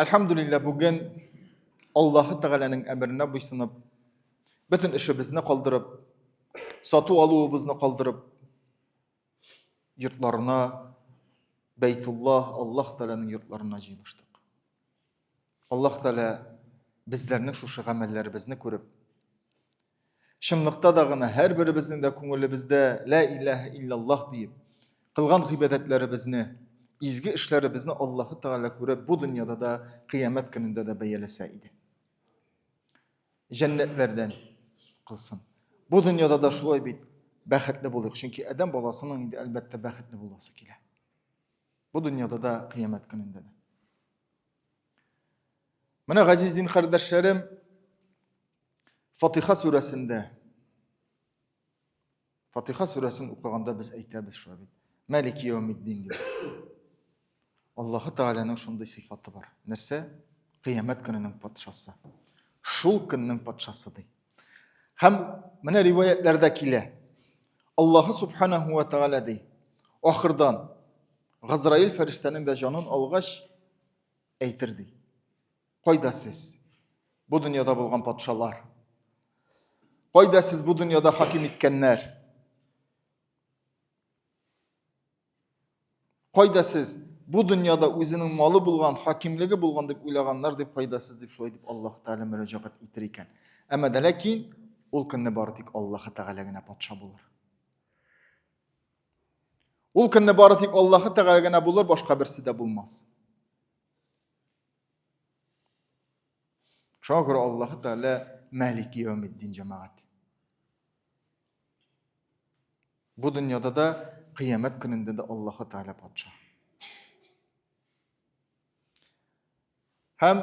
Әлхәмдулиллә, бүген Аллаһы Тәгаләнең әмеренә буйсынып, бөтен эшебезне калдырып, сату алуыбызны калдырып, йортларына, Бәйтулла, Аллаһ Тәгаләнең йортларына җыелыштык. Аллаһ Тәгалә безләрнең шушы гамәлләребезне күреп, Чынлыкта да гына һәрберебезнең дә күңелебездә лә иләһә иллаллаһ диеп, кылган гыйбадәтләребезне, изге эшләребезне Аллаһы Тәгалә күреп, бу дөньяда да, кыямәт көнендә дә бәяләсә иде. Җәннәтләрдән кылсын. Бу дөньяда да шулай бит бәхетле булыйк, чөнки адәм баласының инде әлбәттә бәхетле буласы килә. Бу дөньяда да, кыямәт көнендә дә. Менә газиз дин кардәшләрем, Фатиха сүрәсендә Фатиха сүрәсен укыганда без әйтәбез шулай бит. Мәлик яумиддин дибез. Аллаһы Тәгаләнең шундый сыйфаты бар. Нәрсә? Кыямәт көненең патшасы. Шул көннең патшасы ди. Һәм менә риваятләрдә килә. Аллаһы субханаһу ва тәгалә ди. Ахырдан Газраил фәрештәнең дә җанын алгач әйтер ди. Кайда сез? Бу дөньяда булган патшалар. Кайда сез бу дөньяда хаким иткәннәр? Кайда сез бу дөньяда үзенең малы булган, хакимлеге булган дип уйлаганнар дип кайда сез дип шулай дип Аллаһ Тәгалә мөрәҗәгать итер икән. Әмма дә ләкин ул көнне бары тик Аллаһ Тәгалә генә патша булыр. Ул көнне бары тик Аллаһ Тәгалә генә булыр, башка берсе дә булмас. Шуңа күрә Аллаһ Тәгалә Мәлик Яумиддин җәмәгать. Бу дөньяда да, кыямәт көнендә дә Аллаһ Тәгалә патша. Һәм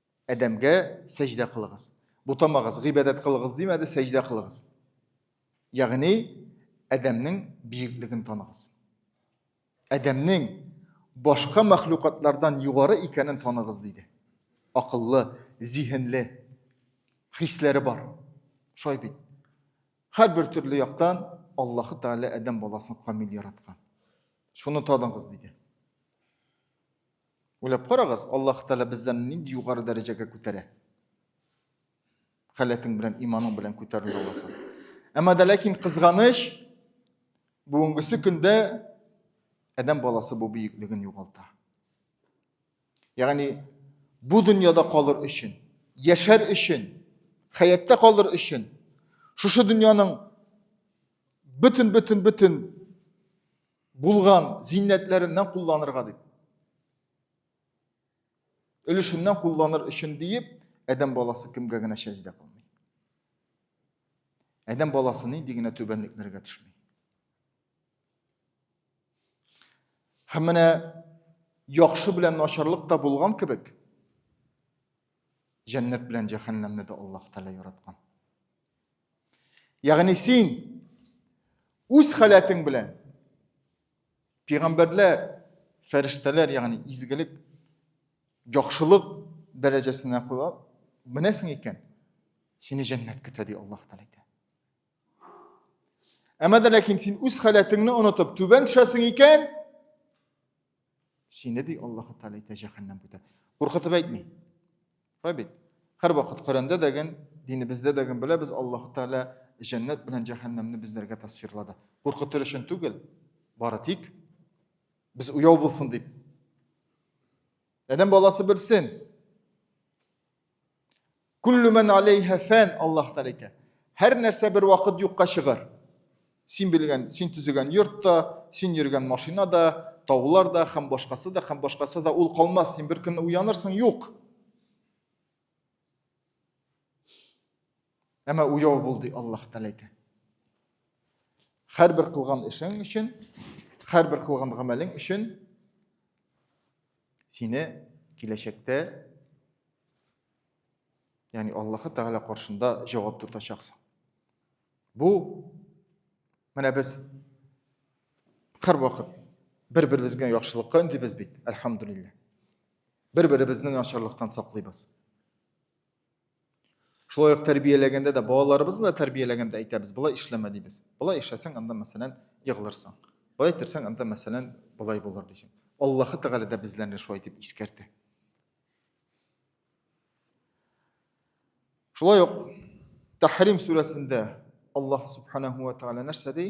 Адәмгә сәҗдә кылыгыз. Бутамагыз, гыйбадәт кылыгыз димәде, сәҗдә кылыгыз. Ягъни Адәмнең биеклеген таныгыз. Адәмнең башка мәхлукатлардан югары икәнен таныгыз диде. Акыллы, зиһенле, хисләре бар. Шулай бит. Һәрбер төрле яктан Аллаһы Тәгалә Адәм баласын камил яраткан. Шуны таныгыз диде. Уйлап карагыз, Аллаһ Тәгалә безләрне нинди югары дәрәҗәгә күтәрә. Халәтең белән, иманың белән күтәрелә аласың. Әмма дә ләкин кызганыч, бүгенгесе көндә адәм баласы бу бөеклеген югалта. Ягъни бу дөньяда калыр өчен, яшәр өчен, хәятта калыр өчен, шушы дөньяның бөтен бөтен бөтен булган зиннәтләреннән кулланырга дип өлешеннән кулланыр өчен диеп адәм баласы кемгә генә сәҗдә кылмый адәм баласы нинди генә түбәнлекләргә төшми һәм менә яхшы белән начарлык та булган кебек Җәннәт белән җәһәннәмне дә Аллаһ Тәгалә яраткан. Ягъни син үз халәтең белән пигамбәрләр, фәрештәләр, ягъни изгелек, яхшылык дәрәҗәсенә куя, менәсең икән, сине җәннәт көтә ди Аллаһ Тәгалә әйтә. Әмма дә ләкин син үз халәтеңне онытып түбән төшәсең икән, Сине ди Аллаһу Тәгалә әйтә җәһәннәм көтә. Куркытып әйтми. Шулай бит. Һәрвакыт Коръәндә дәген, динебездә дәген беләбез, Аллаһу Тәгалә җәннәт белән җәһәннәмне безләргә тасвирлады. Куркытыр өчен түгел, бары тик без уяу булсын дип. Адәм баласы белсен, Күллүмен алейха фән Аллах тәлә әйтә. Һәр нәрсә бер вакыт юкка чыгар. Син белгән, син төзегән йорт та, син йөргән машина да, таулар да, һәм башкасы да, һәм башкасы да ул калмас. Син бер көнне уянырсың, юк. Әмма уяу бул ди Аллах тәлә әйтә. Һәрбер кылган эшең өчен, һәрбер кылган гамәлең өчен Сине киләчәктә яни Аллаһы Тәгалә каршында җавап тотачаксың. Бу менә без һәрвакыт бер-беребезгә яхшылыкка өндибез бит, әлхәмдулилләһ. Бер-беребезне начарлыктан саклыйбыз. Шулай ук тәрбияләгәндә дә, балаларыбызны да тәрбияләгәндә әйтәбез, болай эшләмә дибез. Болай эшләсәң, анда мәсәлән, егылырсың. Болай итсәң, анда мәсәлән, болай булыр дисең. Аллаһы Тәгалә дә безләрне шулай итеп искәртә. Шулай ук Тәхрим сүрәсендә Аллаһ субханаһу ва тәгалә нәрсә ди?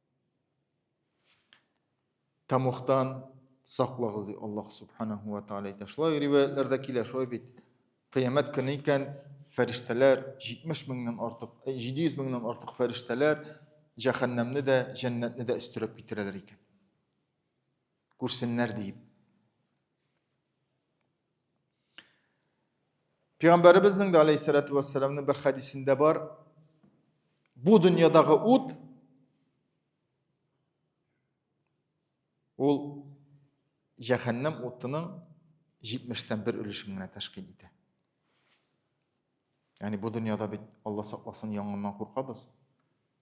Тамухтан саклагыз ди Аллаһ субханаху ва тааля әйтә. Шулай риваятләрдә килә, шулай бит. Кыямәт көне икән, фәрештәләр 70 меңнән артык, 700 меңнән артык фәрештәләр җәһәннәмне дә, җәннәтне дә өстерәп китерәләр икән. Күрсеннәр диеп. Пәйгамбәребезнең дә алейһиссалату вассаламның бер хәдисендә бар. Бу дөньядагы ут ул җәһәннәм утының 70-тән бер өлешен генә тәшкил итә. Ягъни бу дөньяда бит Алла сакласын янгыннан куркабыз.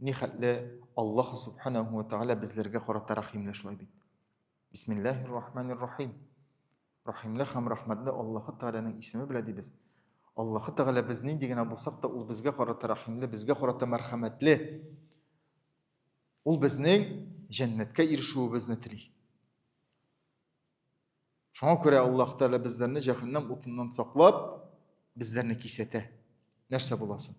Нихәтле Аллаһ Субханаһу ва Тәгалә безләргә карата рәхимле шулай бит. Бисмиллаһир рахманир рахим. Рәхимле һәм рәхмәтле Аллаһ Тәгаләнең исеме белән дибез. Аллаһ Тәгалә без нинди генә булсак та, ул безгә карата рәхимле, безгә карата мәрхәмәтле. Ул безнең җәннәткә ирешүебезне тели. Шуңа күрә Аллаһ Тәгалә безләрне җәһәннәм утыннан саклап, безләрне кисәтә. Нәрсә буласын?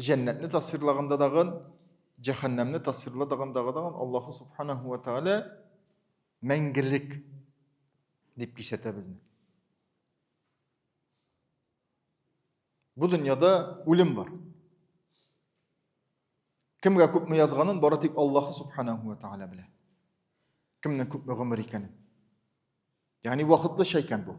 Җәннәтне тасвирлаганда дагын, җәһәннәмне тасвирлаганда дагын Аллаһы субханаһу ва тааля мәңгелек дип кисәтә безне. Бу дөньяда үлем бар. Кемгә күпме язганын бары тик Аллаһы субханаһу ва тааля белә. Кемнең күпме гомер икәнен. Ягъни вакытлыча икән бу.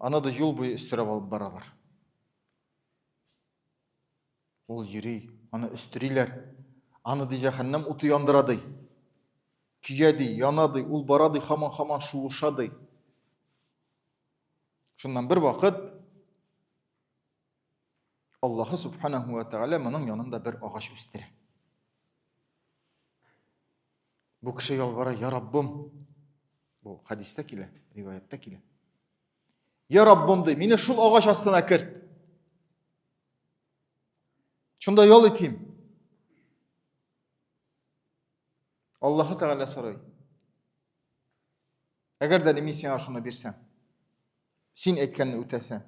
Аны да юл буе өстерәп алып баралар. Ул йөри, аны өстериләр. Аны ди җәһәннәм уты яндыра ди. Көя ди, яна ди, ул бара ди, хаман-хаман шуыша ди. Шуннан бер вакыт Аллаһы субханаху ва тәгалә моның янында бер агач үстерә. Бу кеше ялвара, я Раббым. Бу хадистә килә, риваяттә килә. Я Раббым ди, мине шул агач астына керт. Шунда ял итим. Аллаһы Тәгалә сорый. Әгәр дә мин сиңа шуны бирсәм, син әйткәнне үтәсәң,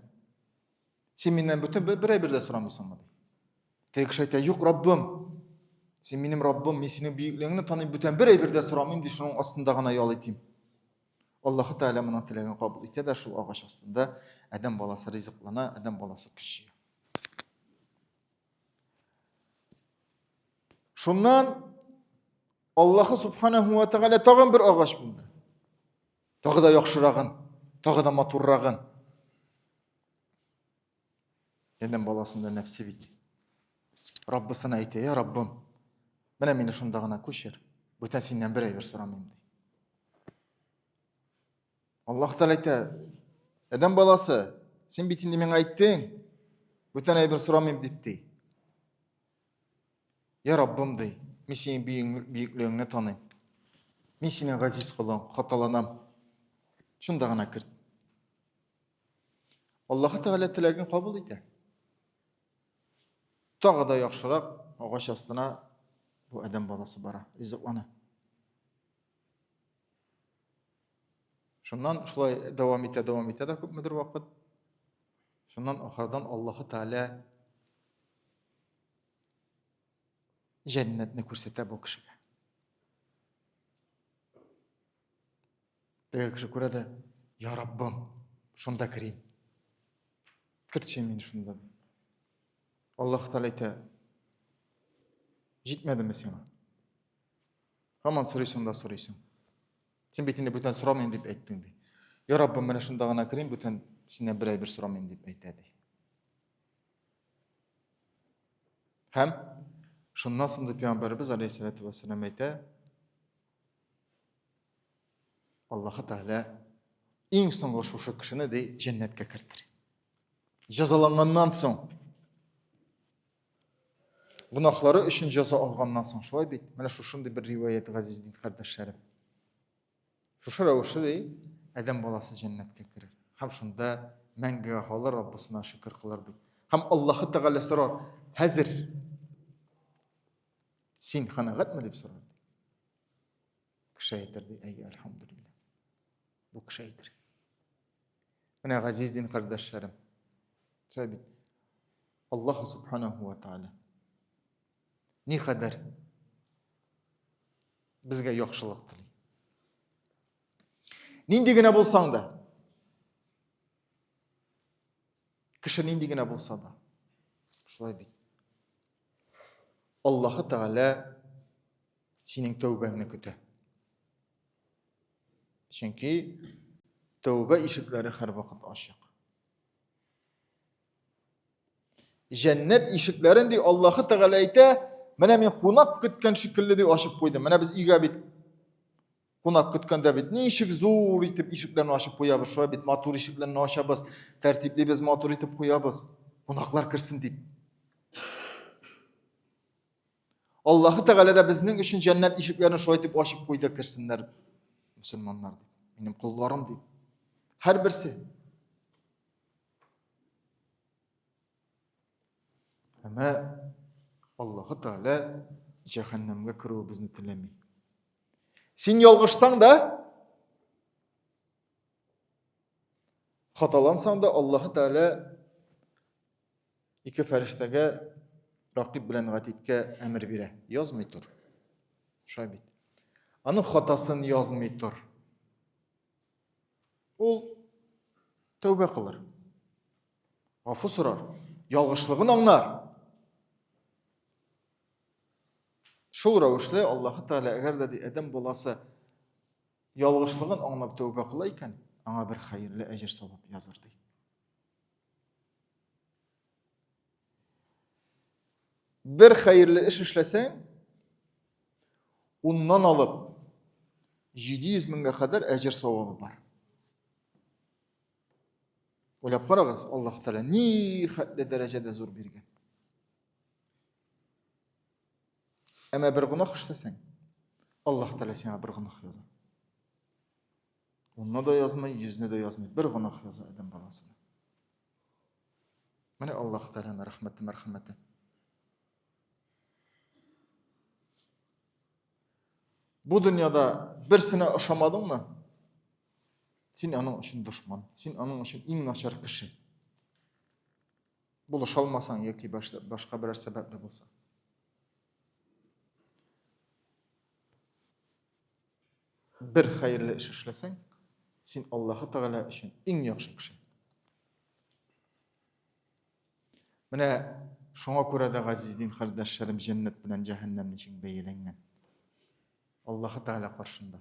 син миннән бөтен бер әйбер дә сорамыйсыңмы? Теге кеше әйтә, юк, Раббым, син минем Раббым, мин синең бөеклегеңне таныйм, бүтән бер әйбер дә сорамыйм, ди шуның астында гына ял итим. Аллаһы Тәгалә моның теләген кабул итә дә шул агач астында адәм баласы ризыклана, адәм баласы көч Шуннан Аллаһы субханаху ва тәгалә тагын бер агач булды. Тагы да яхшырагын, тагы да матуррагын. Адәм баласында нәфсе бит. Раббысына әйтә, "Я Раббым, менә мине шунда гына күчер. Бүтән синнән бер әйбер сорамыйм" ди. Аллаһ Тәгалә әйтә, Адәм баласы, син бит инде миңа әйттең, бүтән әйбер сорамыйм дип ди. Я Раббым ди, мин синең бөеклегеңне таныйм. Мин синең газиз колың, хаталанам. Шунда гына керт. Аллаһ Тәгалә теләген кабул итә. Тагы да яхшырак агач астына бу адәм баласы бара, ризыклана. Шуннан шулай дәвам итә, дәвам итә дә күпмедер вакыт. Шуннан ахырдан Аллаһы Тәгалә җәннәтне күрсәтә бу кешегә. Теге кеше күрә дә, "Я Раббым, шунда керим." Кертче мин шунда. Аллаһ Тәгалә әйтә, "Җитмәдеме сиңа?" Һаман сорыйсың да сорыйсың. Син бит инде бүтән сорамыйм дип әйттең ди. Я Раббым, менә шунда гына керим, бүтән синнән бер әйбер сорамыйм дип әйтә ди. Һәм шуннан соң да пәйгамбәрбез алейһиссалату вассалам әйтә, Аллаһы Тәгалә иң соңгы шушы кешене ди җәннәткә кертер. Җәзаланганнан соң Гунахлары өчен җәза алганнан соң шулай бит. Менә шушындый бер риваят газиз дин кардәшләрем. Шушы рәвешле ди, Адәм баласы җәннәткә керер. Һәм шунда мәңгегә калыр, Раббысына шөкер кылыр ди. Һәм Аллаһы Тәгалә сорар, "Хәзер син канәгатьме?" дип сорар. Кеше әйтер ди, "Әй, альхамдулилла." Бу кеше әйтер. Менә газиз дин кардәшләрем. Шулай бит. Аллаһ субханаһу ва тааля ни кадәр безгә яхшылык тели. Нинди генә булсаң да, кеше нинди генә булса да, шулай бит. Аллаһы Тәгалә синең тәүбәңне көтә. Чөнки тәүбә ишекләре һәрвакыт ачык. Җәннәт ишекләрен ди Аллаһы Тәгалә әйтә, менә мин кунак көткән шикелле ди ачып куйдым. Менә без өйгә бит кунак көткәндә бит ничек зур итеп ишекләрне ачып куябыз, шулай бит матур ишекләрне ачабыз, тәртиплибез, матур итеп куябыз. Кунаклар керсен дип. Аллаһы Тәгалә дә безнең өчен җәннәт ишекләрен шулай итеп ачып куйды, керсеннәр мөселманнар дип, минем кулларым дип. Һәрберсе. Әмма Аллаһы Тәгалә җәһәннәмгә керүебезне теләми. Син ялгышсаң да, Хаталансаң да Аллаһ Тәгалә ике фәрештәгә ракиб белән гатидкә әмер бирә. Язмый тор. Шулай бит. Аның хатасын язмый тор. Ул тәүбә кылыр. Гафу сорар. Ялгышлыгын аңлар. Шул рәвешле Аллаһ Тәгалә әгәр дә Адәм баласы Ялгышлыгын аңлап тәүбә кыла икән, аңа бер хәерле әҗер савап языр ди. Бер хәерле эш эшләсәң, уннан алып 700 меңгә кадәр әҗер савабы бар. Ойлап карагыз, Аллаһ Тәгалә ни хәтле дәрәҗәдә зур биргән. Әмә бер гунах эшләсәң, Аллаһ Тәгалә сиңа бер гунах яза. Унны да язмый, йөзне дә язмый, бер гунах яза адәм баласына. Менә Аллаһ Тәгаләнең рәхмәте, мәрхәмәте. Бу дөньяда берсенә ошамадыңмы? Син аның өчен дошман, син аның өчен иң начар кеше. Булыша алмасаң яки башка берәр сәбәпле булса. Бер хәерле эш эшләсәң, син Аллаһы Тәгалә өчен иң яхшы кеше. Менә шуңа күрә дә газиз дин хәрдәшләрем җәннәт белән җәһәннәм өчен бәяләнгән. Аллаһы Тәгалә каршында.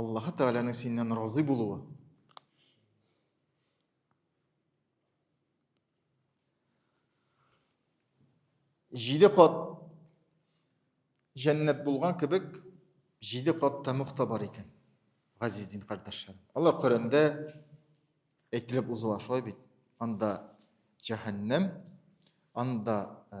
Аллаһы Тәгаләнең синнән разый булуы. Җиде кат җәннәт булган кебек, җиде кат тәмух та бар икән. Газиз дин кардәшләрем. Алар Коръәндә әйтелеп узыла шулай бит. Анда җәһәннәм, анда э,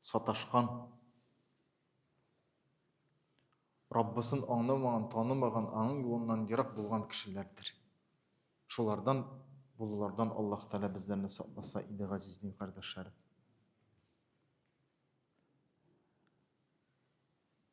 Саташкан. Раббысын аңламаган, танымаган, аның юлыннан ерак булган кешеләрдер. Шулардан булулардан Аллаһ Тәгалә безләрне сакласа иде, газиз дин кардәшләрем.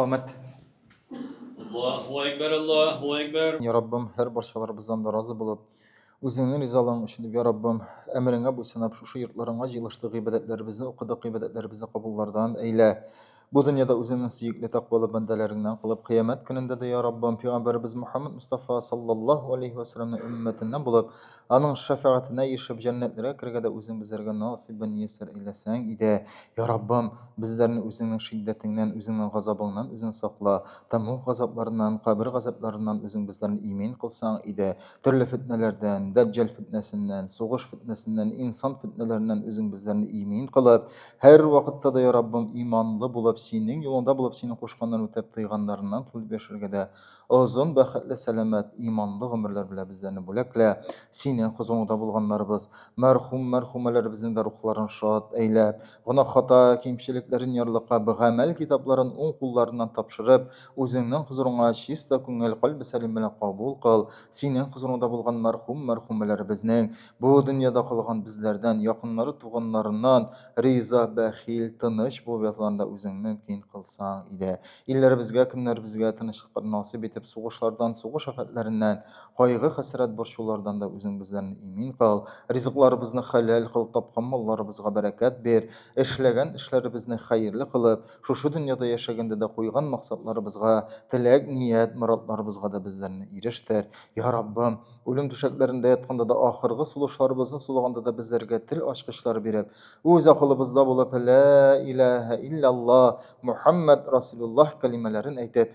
Камәт. Аллаһу әкбәр, Аллаһу әкбәр. Я Раббым, һәр барчаларыбыздан да разы булып, үзеңнең ризалыгың өчен дип, я Раббым, әмереңә буйсынып, шушы йортларыңа җыелыштык, гыйбадәтләребезне укыдык, гыйбадәтләребезне кабуллардан әйлә. Бу дөньяда үзеңнең сөекле тәкъвалы бәндәләреңнән кылып, кыямәт көнендә дә, я Раббым, пәйгамбәребез Мөхәммәд Мустафа саллаллаһу алейһи ва саллямның өммәтеннән булып, аның шәфәгатенә ирешеп, җәннәтләргә керергә дә үзең безләргә насыйбын мияссәр әйләсәң иде. Я Раббым, безләрне үзеңнең шиддәтеңнән, үзеңнең газабыңнан үзең сакла. Тәмуг газапларыннан, кабер газапларыннан үзең безләрне имин кылсаң иде. Төрле фетнәләрдән, дәҗҗәл фетнәсеннән, сугыш фетнәсеннән, инсан фетнәләреннән үзең безләрне имин кылып, һәр вакытта да, я Раббым, иманлы булып, синең юлыңда булып, синең кушканнан үтеп, тыйганнарыңнан тылып яшәргә дә озын, бәхетле, сәламәт, иманлы гомерләр белән безләрне бүләклә. Синең хозурыңда булганнарыбыз, мәрхүм, мәрхүмәләребезнең дә рухларын шат әйлә. Гөнаһ хата кимчелекләрен ярлыка б гамәл китапларын уң кулларыннан тапшырып, үзеңнең хозурыңа чиста күңел, кальбе сәлим белән кабул кыл, синең хозурыңда булган мәрхүм, мәрхүмәләребезнең, бу дөньяда калган безләрдән, якыннары, туганнарыннан риза, бәхил, тыныч булып ятуларын да үзең мөмкин кылсаң иде. Илләребезгә, көннәребезгә тынычлыклар насыйп итеп, сугышлардан, сугыш афәтләреннән, Кайгы-хәсрәт борчулардан да үзең безләрне имин кыл. Ризыкларыбызны хәләл кыл, тапкан малларыбызга бәрәкәт бир. Эшләгән эшләребезне хәерле кылып, шушы дөньяда яшәгәндә дә куйган максатларыбызга, теләк, ният, моратларыбызга да безләрне ирештер. Йа Раббым! Үлем түшәкләрендә ятканда да, ахыргы сулышларыбызны сулаганда да безләргә тел ачкычлар биреп, үз акылыбызда булып, Лә иләһә иллялла, Мухәммәд Расилуллаһ кәлимәләрен әйтеп,